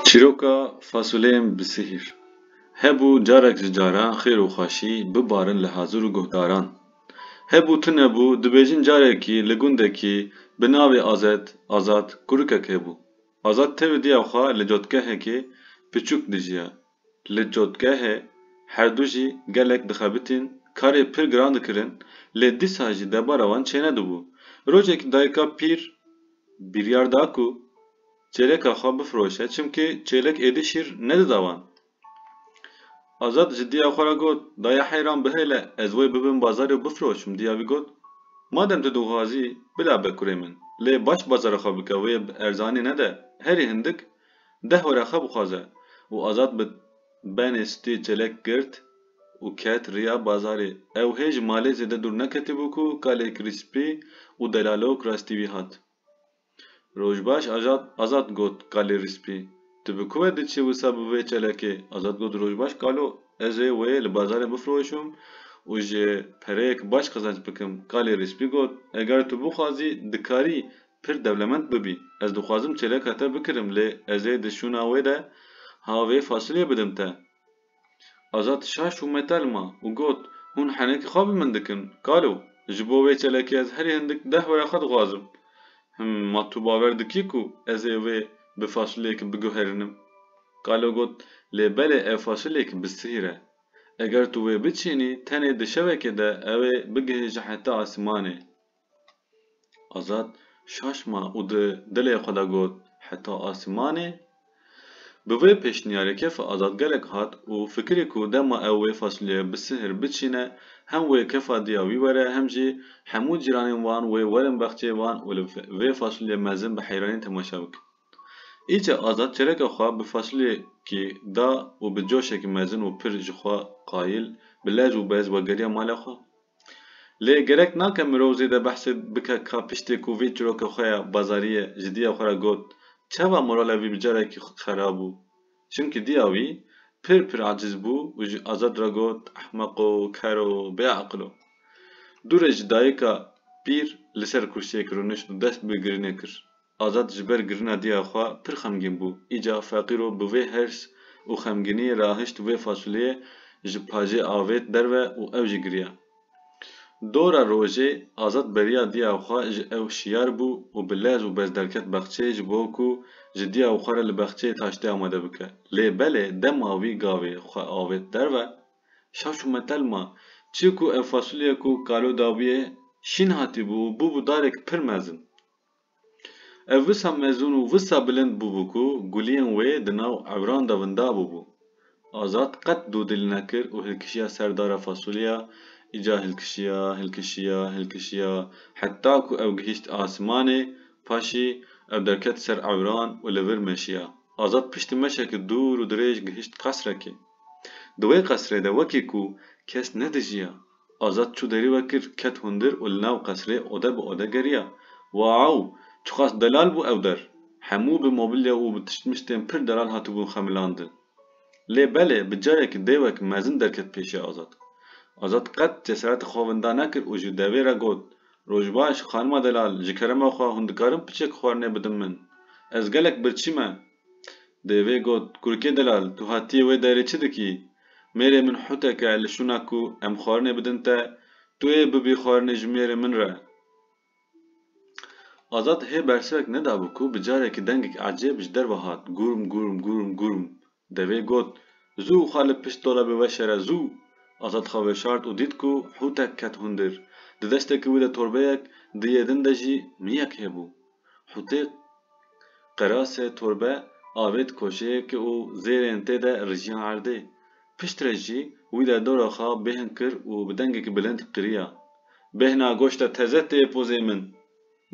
Çîroka fasuleyên bi sihîr. Hebû carek ji caran xêr û xweşî bibarin li Hazûr û guhdaran. Hebû tu nebû, dibêjin carekî li gundekî bi navê Azet, Azad, kurikek hebû. Azad tevî diya xwe li cotgehekê piçûk dijiya. Li cotgehê herdu jî gelek dixebitîn, karê pir giran dikirin, lê dîsa jî debara wan çênedibû. Rojekî dayika pîr biryar da ku çêleka xwe bifiroşe çimkî çêlek êdî şîr nedida wan. Azad ji diya xwe re got, Daya heyran bihêle ez wê bibim bazarê û bifiroşim. Diya vî got, Madem tu dixwazî, bila be kurê min. Lê baş bazara xwe bike wê bi erzanî nede, herî hindik Dehora xwe bixwaze û azad bi benê stê çelek girt û ket riya bazarê. Ew hê ji malê zêde dûr neketibû ku kalê krîspî û delalok rastî wî hat. Rojbaş ajad azad got kalê rîspî Tu bi ku ve diçî wisa bi vê çelekê? Azad got Rojbaş kalo ez ê wê li bazarê bifroşim û ji pereyek baş qizanc bikim. Kalê rîspî got Eger tu bixwazî dikarî Pir dewlemend bibî. Ez dixwazim çêleka te bikirim lê ez ê di şûna wê de ha vê fasilê bidim te. Azad şaş û metel ma û got, Hûn henekî xwe bi min dikin, kalo, ji bo vê çelekê ez herî hindik deh were xwe dixwazim. Him, ma tu bawer dikî ku ez ê wê bi fasileyekî biguherinim? Kalo got, Lê belê ev fasileyekî bi sihîr e. Eger tu wê biçînî tenê di şevekê de ew ê bigihêje heta asîmanê. Azad şaşma û di dilê xwe de got, Heta asîmanê? Bi vê pêşniyarê kefa azadgerek hat û fikirî ku dema ew wê fasulyeya bi sihir biçîne hem wê kefa diya wî were hem jî hemû cîranên wan wê werin bexçeyê wan û li vê fasulyê mezin bi heyranî temaşe bikin. Îca Azad çereka xwe bi fasulyekî da û bi coşekî mezin û pir jixwe qayîl bi lez û bez wegeriya malê xwe. Lê gerek nake mirov zêde behsê bike ka piştê ku vê çîroka xwe ya bazariyê ji diya xwe re got çawa morala wî bi carekî xerab bû. Çimkî diya wî pir pir aciz bû û ji Azad re got ehmeq o, ker o, bêaqil o. Dûre ji dayika pîr li ser kursiyê kironiş û dest bi girinê kir. Azad ji ber girina diya xwe pir xemgîn bû. Îca Feqîro bi vê hirs û xemgîniyê re ahişt vê fasuleyê ji pajê avêt derve û ew jî giriya. Dora rojê Azad beriya diya xwe ji ew şiyar bû û bi lez û bez derket bexçeyê ji bo ku ji diya xwe re li bexçeyê taştê amade bike. Lê belê dema wî gavê xwe avêt derve, şa çû metelma. Çi ku ev fasulye ku kalo dabûye şîn hatîbû û bûbû darek pir mezin. Ev wisa mezûn û wisa bilind bûbû ku guliyên wê di nav ewran de winda bûbû. Azad qet dûdil nekir û hilkişiya ser dara fasulyeya, îcar hilkişiya, hilkişiya, hilkişiya heta ku ew gihîşt asimanê, paşî ew derket ser ewran û li vir meşiya. Azad piştî meşeke dûr û dirêj gihîşt qesrekê. Di wê qesrê de wekî ku kes nedijiya. Azad çû derî we kir, ket hundir û li nav qesrê ode bi ode geriya. Waew! Çiqas delal bû ew der! Hemû bi mobilya û bi tiştmiştên pir delal hatibûn xemilandin. Lê belê bi cayekî dêwek mezin derket pêşiya Azad. Azad qet cesereta xwe winda nekir û ji devê re got, Rojbaş, xanima delal, ji kerema xwe hûn dikarin piçek xwarinê bidin min? Ez gelek birçî me. Dêvê got, Kurikê delal, tu hatiyê wê derê çi dikî? Mêrê min hutek e li şûna ku em xwarinê bidin te, tu ê bibî xwarinê ji mêrê min re. Azad hê bersivek nedabû ku bi carekî dengek ecêb ji derve hat, Gurm, gurm, gurm, gurm. Dêvê got, Zû xwe li pişt dolabê weşere, zû! Azad xwe veşart û dît ku hutek ket hundir. Di destekî wî de torbeyek, di yê din de jî miyek hêbû. Hûtê qerasê torbe avêt koşeyek û zêrên tê de rijiya erdê. Pişt re jî wî de dora xwe bêhn kir û bi dengekî bilind qiriya, Bêhna goşta teze tê pozê min!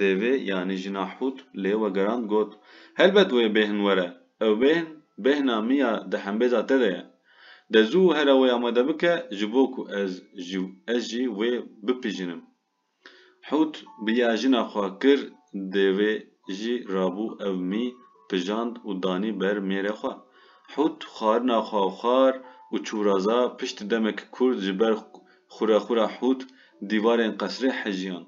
Dêvê yanî jina Hût lê wegerand got, Helbet wê bêhn were. Ew bêhn, bêhna min ya di hembêza te de ye. De zû here wê amade bike ji bo ku ez jî wê bipîjinim. Hût bi ya jina xwe kir dêvê jî rabû ew mî pijand û danî ber mêrê xwe. Hût xwarina xwe xwar û çûraza pişt demekî kûrt ji ber xûrexûra hût dîvarên qesrê hejiyan.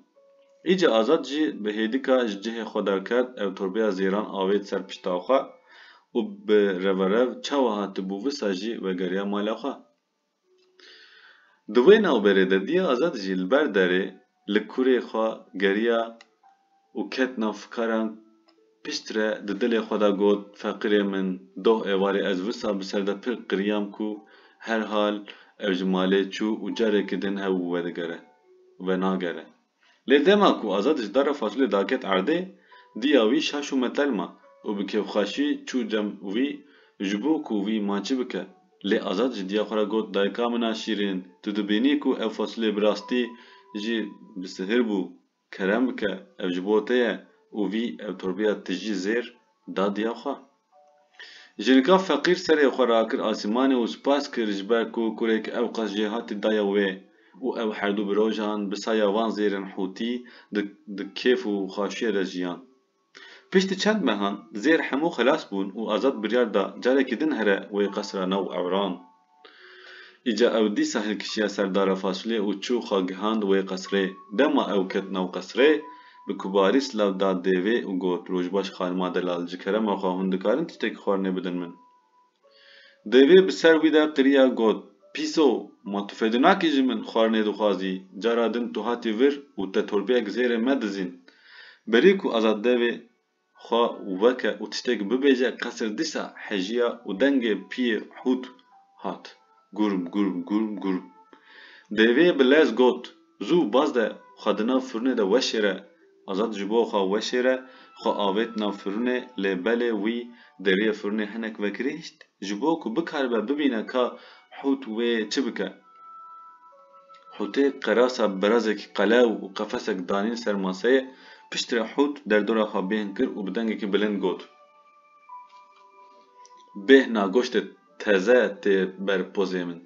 Îca Azad jî bi hêdika ji cihê xwe derket ew torbeya zêran avêt ser pişta xwe û bi reverev çawa hatibû wisa jî vegeriya mala xwe. Di wê navberê de Diya Azad jî li ber derê li kurê xwe geriya û ket nav fikaran piştre di dilê xwe de got, Feqîrê min doh êvarê ez wisa bi ser de pir qiriyam ku herhal ew ji malê çû û carekî din hev û vedigere, venagere. Lê dema ku Azad ji dara fasulê daket erdê, diya wî şaş û metel ma û bi kêfxweşî çû cem wî ji bo ku wî ma çi bike. Lê Azad ji diya xwe re got, Dayika min a şîrîn, tu dibînî ku ev fasulê bi rastî jî bi sihir bû, kerem bike, ev ji bo te ye û wî ev torbeya tijî zêr da diya xwe. Jinika feqîr serê xwe rakir asîmanê û spas kir ji ber ku kurek ewqas jêhatî daye wê û ew herdû bi rojan bi saya van zêrên Hûtî di di kêf û xaşiyê de jiyan. Piştî çend mehan, zêr hemû xelas bûn û Azad biryar da carekî din here wê qesra nav Ewran. Îca ew dîsa hilkişiya ser dara fasulye û çû xwe gihand wê qesrê. Dema ew ket nav qesrê, bi kubarî silav da dêvê û got, Rojbaş xanima delal, ji kerema xwe hûn dikarin tiştekî xwarinê bidin min? Dêvê bi ser wî de qiriya got, Pîso, ma tu fêdû nakî ji min, xwarinê dixwazî, cara din tu hatî vir û te torbeyek zêrê me dizîn. Berî ku Azad Dêvê xwe veke û tiştek bibêje qesir dîsa hejiya û dengê piyê hût hat, Gurm, gurm, gurm, gurm. Dêvê bi lez got, Zû baz de xwe di nav firûnê de weşêre. Azad ji bo xwe weşêre xwe avêt nav firûnê lê belê wî deriyê firûnê hinek vekirîşt ji bo ku bikaribe bibîne ka hût wê çi bike. Hûtê qerasa birazekî qelew û qefesek danîn ser maseyê, piştre Hût derdora xwe bêhn kir û bi dengekî bilind got, Bêhna goştê teze tê ber pozê min.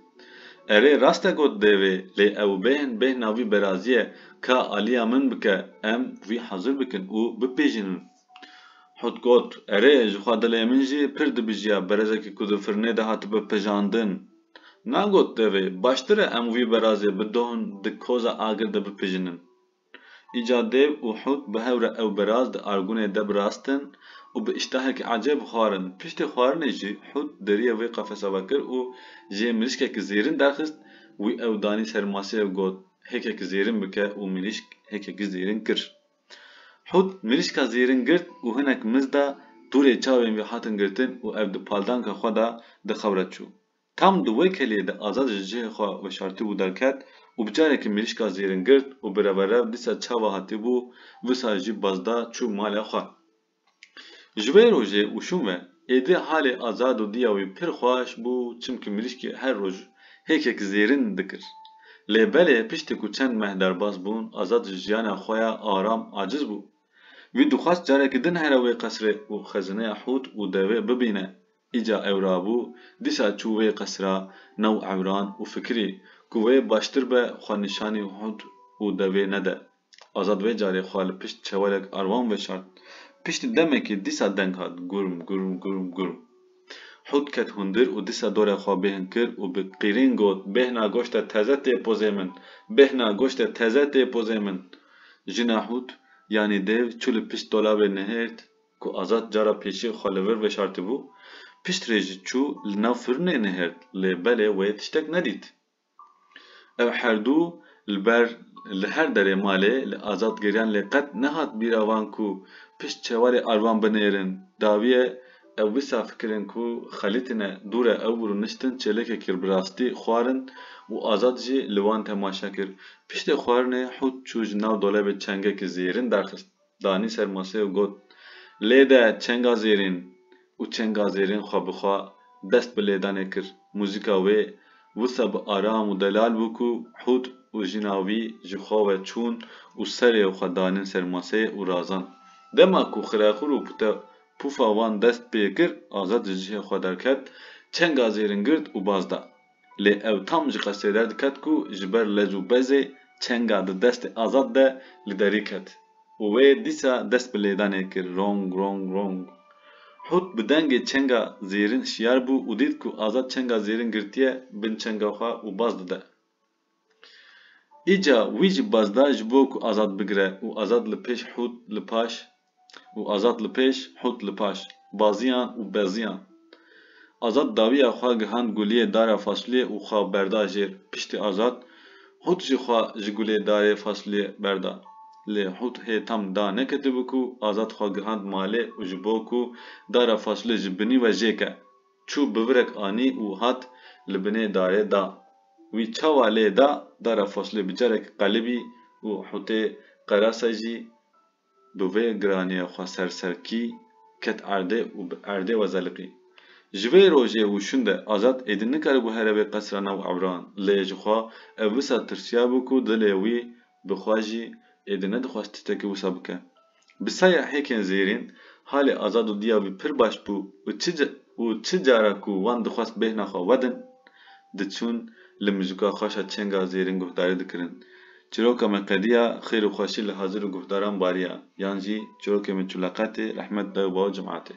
Erê, rast e got devê, lê ew bêhn bêhna vî berazî ye, ka aliya min bike, em vî hezir bikin û bipejînin. Hût got, Erê, jixwe dilê min jî pir dibijîya berazekî ku di firnê de hatibe pejandin. Nan got devê, baştir e em wî berazê bi don di koza agir de bipijinin. Înca dêv û hut bi hev re ew beraz di argunê de birastin û bi îştahekî ecêb xwarin. Piştê xwarinê jî hut deriyê wê qefesa vekir û jê mirîşkekî zêrin derxist, wî ew danî ser masê ew got, hêkekî zêrin bike û mirîşk hêkekî zêrin kir. Hût mirîşka zêrin girt û hinek miz da, dûrê çavên wî hatin girtin û ev di paldanka xwe de di xewre çû. Tam di wê kelê de Azad ji cihê xwe veşartibû derket û bi carekî mirîşka zêrin girt û bi reverev dîsa çawa hatibû, wisa jî baz da çû malê xwe. Ji wê rojê û şûme êdî halê Azado diya wî pir xweş bû çimkî mirîşkê her roj hêkek zêrîn dikir. Lê belê piştî ku çend meh derbas bûn Azad ji jiyana xwe ya aram aciz bû. Wî dixwest carekî din here wê qesrê û xezineya hût û devê bibîne Îca ewra bû, dîsa çû wê qesra new ewran û fikirî ku wê baştir be xwe nîşanî hûd û devê nede. Azad wê carê xwe li pişt çewelek arwan veşart. Piştî demekê dîsa deng hat, gurm, gurm, gurm, gurm. Hûd ket hundir û dîsa dorê xwe bêhn kir û bi qîrîn got, Bêhna goşte teze tê pozê min! Bêhna goşte teze tê pozê min! Jina hûd, yanî dêv, çû li pişt dolabê nihêrt, Ku Azad cara pêşî xwe li vir veşartibû, piştrê jî çû li nav firnê nihêrt lê belê wê tiştek nedît. Ev herdû li ber li her derê malê li Azad geriyan lê qet nehat bîra wan ku pişt çewarê arvan binêrin. Dawiye ew wisa fikirin ku xelîtine dûre ew rûniştin çêlekê kir bi rastî xwarin û Azad jî li wan temaşe kir. Piştê xwarinê hût çû ji nav dolebê çengekî zêrin derxist. danî ser masê û got, Lê de çengazêrên û çengazêrên xwe bi xwe dest bi lêdanê kir. Muzîka wê wisa bi aram û delal bû ku Hûd û jina wî ji xwe ve çûn û serê xwe danin ser masê û razand. Dema ku xirexur û pute pûfa wan dest pê kir, Azad ji cihê xwe derket, çengazêrin girt û baz da. Lê ew tam ji qesdê derdiket ku ji ber lez û bezê çenga di destê Azad de li derî ket û wê dîsa dest bi lêdanê kir, rong, rong, rong. Hut bi dengê çenga zêrin şiyar bû û dît ku Azad çenga zêrin girtiye bin çenga xwe û baz dide. Îca wî ji baz da ji bo ku azad bigire û azad li pêş hût li paş û azad li pêş hût li paş baziyan û beziyan. Azad dawiya xwe gihand guliyê dara fasuliyê û xwe berda jêr. Piştî azad hût jî xwe ji gulê darê fasuliyê berda. Lê hût hê tam da neketibû ku azad xwe gihand malê û ji bo ku dara fasuliyê ji binî we jêke Çû bivirek anî û hat li binê darê da. Wî çawa lê da dara foslê bi carek qelibî û hûtê qerase jî bi vê giraniya xwe ser serkî ket erdê û bi erdê we zeliqî. Ji vê rojê û şinde Azad êdî nikaribû here bê qesra nav Ebran lê ji xwe ev wisa tirsiyabû ku dilê wî bi xwe jî êdî nedixwest tiştekî wisa bike. Bi saya hêkên zêrîn, halê Azad û Diya wî pir baş bû û çi û çi cara ku wan dixwest bêhna xwe wedin, diçûn li mizûka xweşa çênga zêrîn guhdarî dikirin. Çîroka me qediya, xêr û xweşî li hazir û guhdaran bariya, yan jî çîrokê me Çûleqetê, Rehmet Dayû Baw Cim'atê.